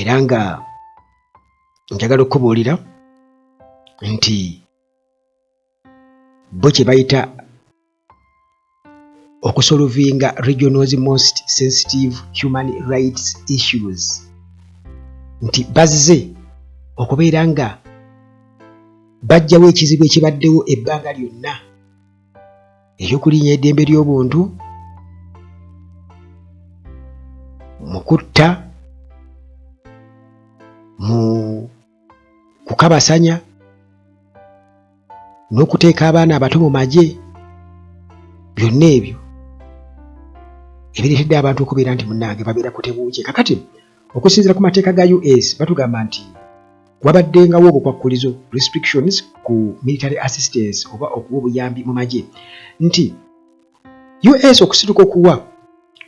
era nga njagala okukubuulira nti bo kye bayita okusolovinga regionals most sensitive human rights issues nti bazze okubeera nga bajjawo ekizibu ekibaddewo ebbanga lyonna ery'okulinya eddembe ly'obuntu mu kutta mu kukabasanya n'okuteeka abaana abato mu magye byonna ebyo ebireetedde abantu okubeera nti munnange babeera kutebuukye kakati Okusinzira ku mateeka ga US batugamba nti wabaddengawo obukwakkulizo restrictions ku military assistance oba okuwa obuyambi mu magye nti US okusituka okuwa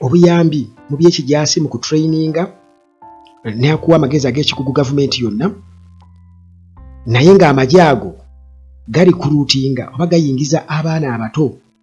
obuyambi mu by'ekijaasi mu kutrayininga nakuwa amagezi ag'ekikugu gavumenti yonna naye ng'amagye ago gali kuluutinga oba gayingiza abaana abato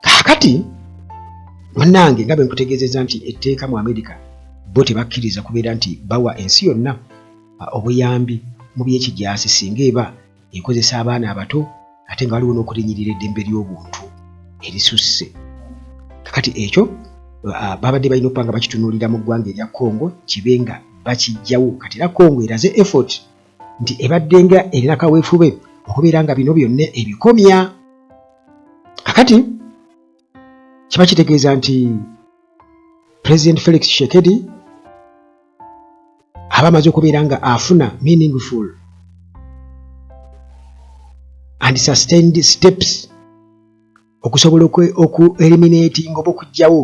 kakati munange nga benkutegezeza nti etteeka mu amerika bo tebakkiriza kubeera nti bawa ensi yonna obuyambi mu byekijasi singa eba ekozesa abaana abato ate nga waliwo n'okulinyirira eddembe ly'obuntu erisusse kakati ekyo babadde balina okuba nga bakitunulira mu ggwanga erya congo kibe nga bakijjawo kati era congo eraze effort nti ebaddenga erina kaweefube okubeera nga bino byonna ebikomya kakati kiba kitegeeza nti pulezidenti felix shekedi aba amaze okubeera nga afuna meaningful and sustained steps okusobola oku eliminating oba okugyawo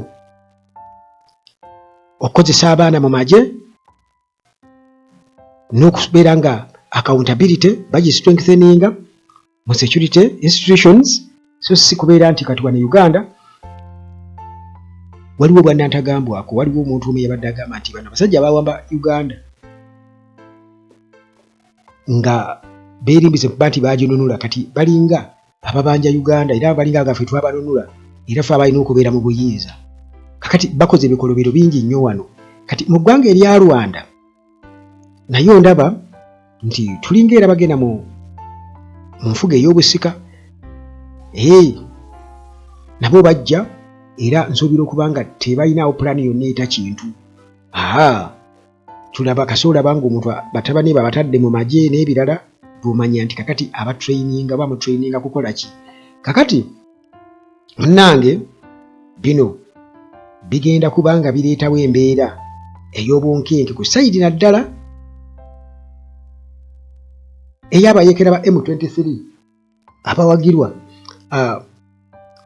okukozesa abaana mu magye n'okubeera nga accountability bagi strengtheninga mu security institutions so si kubeera nti kati wano e uganda waliwo bwanantagambwako waliwo omuntu omu yabadde agamba nti bano abasajja abawamba uganda nga beerimbise kuba nti baginunula kati balinga ababanja uganda era abalinga nga ffe twabanunula era fe abalina okubeera mu buyinza kakati bakoze ebikolobero bingi nnyo wano kati mu ggwanga erya rwanda naye ndaba nti tulinga era bagenda mu nfuga ey'obusika ee nabo bajja era nsuubira okuba nga tebalinaawo pulaani yonna eta kintu aa tulaba kasi olaba ngaomuntu batabani be abatadde mu magye n'ebirala bwomanya nti kakati abatraininga oba mutraininga kukola ki kakati munnange bino bigenda kuba nga bireetawo embeera ey'obunkenke ku sayidi naddala eyabayekera ba m23 abawagirwa uh,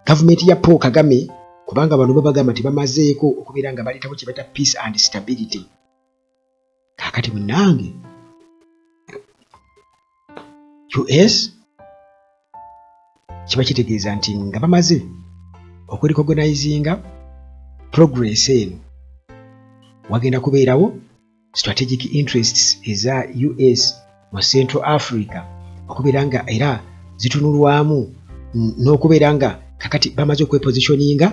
gavumenti ya Paul Kagame kubanga bano babagamba nti bamazeeko okubeera nga baleetawo kye bata peace and stability kakati munange us kiba kitegeeza nti nga bamaze okwerikogonizinga progress eno wagenda kubeerawo strategic interests eza us mu central africa okubeera nga era zitunulwamu n'okubeera nga kakati bamaze okwepositioninga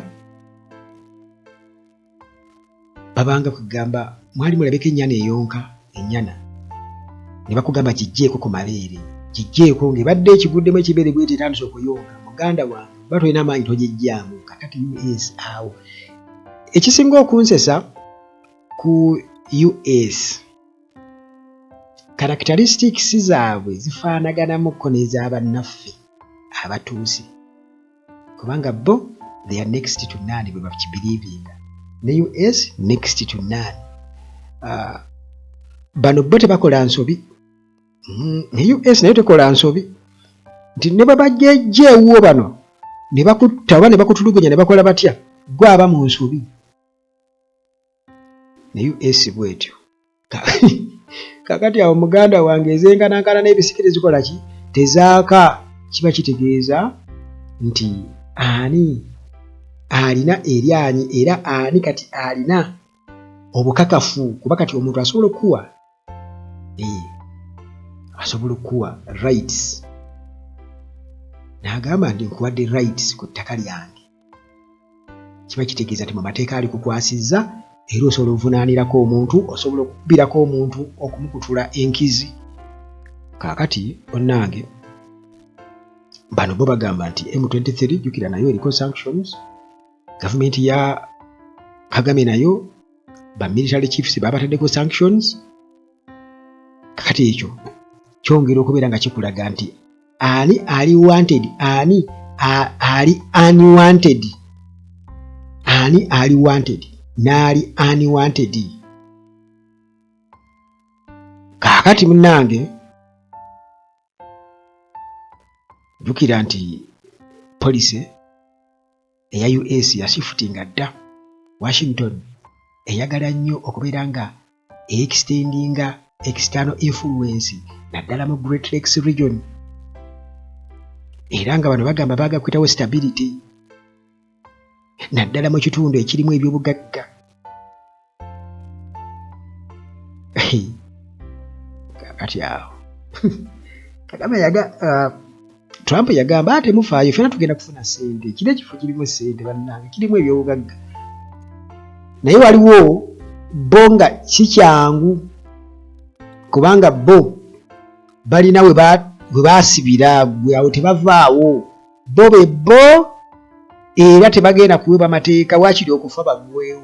babanga kugamba mwali mulabeko ennyana eyonka ennyana ne bakugamba kijjeeko ku mabeere kijjeeko ng'ebadde ekiguddemu ekibeere bwete etandise okuyonka muganda wange oba tolina amaanyi togijjaamu kakati us awo ekisinga okunsesa ku US characteristics zaabwe zifaanagalamukko n'ezabannaffe abatuuze kubanga bo they are next to none bwe bakibiriibinga ne US next to none uh, bano bo tebakola nsobi mm, ne US nayo tekola nsobi nti ne bwe bajjejja ewuwo bano ne bakutta oba ne bakutulugunya ne bakola batya gwe aba mu nsobi naye esi bwetyo kakati awo muganda wange ezenkanankana n'ebisiki tezikola ki tezaaka kiba kitegeeza nti ani alina eryanyi era ani kati alina obukakafu kuba kati omuntu asobola okukuwa eh, asobola okukuwa rights n'agamba nti nkuwadde rights ku ttaka lyange kiba kitegeeza nti mu mateeka alikukwasizza era osobola ovunaanirako omuntu osobola okukubirako omuntu okumukutula enkizi kaakati onnange bano bo bagamba nti m23 jukira nayo eriko sanctions gavumenti ya kagame nayo bamilitary chiefs babataddeko sanctions kakati ekyo kyongera okubeera nga kikulaga nti ani ali wanted ani ali unwanted ani ali wanted naali unwanted kaakati munange jukira nti police eya US yashifutinga dda. Washington eyagala nnyo okubeera nga eyextendinga external influence naddala mu Great Lakes region era nga bano bagamba baaga kuyitawo stability naddala mu kitundu ekirimu ebyobugagga kakati awo kagame yaga uh, trump yagamba ate mufaayo fena tugenda kufuna sente kiri ekifo kirimu sente bannange kirimu ebyobugagga naye waliwo bo nga kikyangu kubanga bo balina we basibira gwe awo tebavaawo bo be bo era tebagenda kuweba mateeka wakiri okufa bagwewo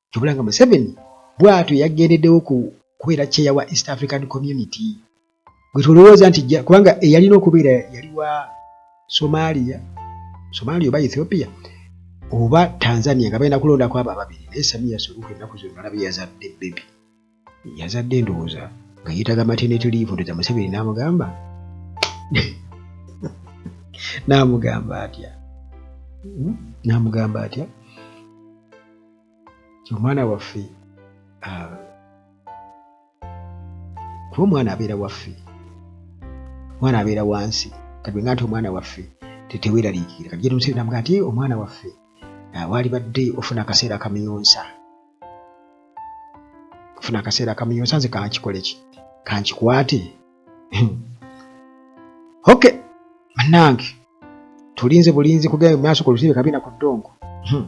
kyobula nga museveni bwatyo yagendedewo ku kubeera kyeya wa east african community gwetulowooza nti kubanga eyalina okubeera yali wa somalia somalia oba ethiopia oba tanzania nga balina kulondako abo ababiri naye samiya suluhu ennaku zonna olaba yazadde bebi yazadde endowooza nga yeetaga maternity leave ndoza museveni n'amugamba n'amugamba atya hmm? n'amugamba atya omwana waffe ah, kuba omwana abeera waffe omwana abeera wansi kati nga nti omwana waffe teteweraliikira kati jetumusebe namuga nti omwana waffe ah, waalibadde ofuna akaseera kamiyonsa funa akaseera kamuyonsa nze kankikoleki kankikwate ok banange tulinze bulinzi kugenda mumaaso ku lusibe kabina ku ddongo hmm.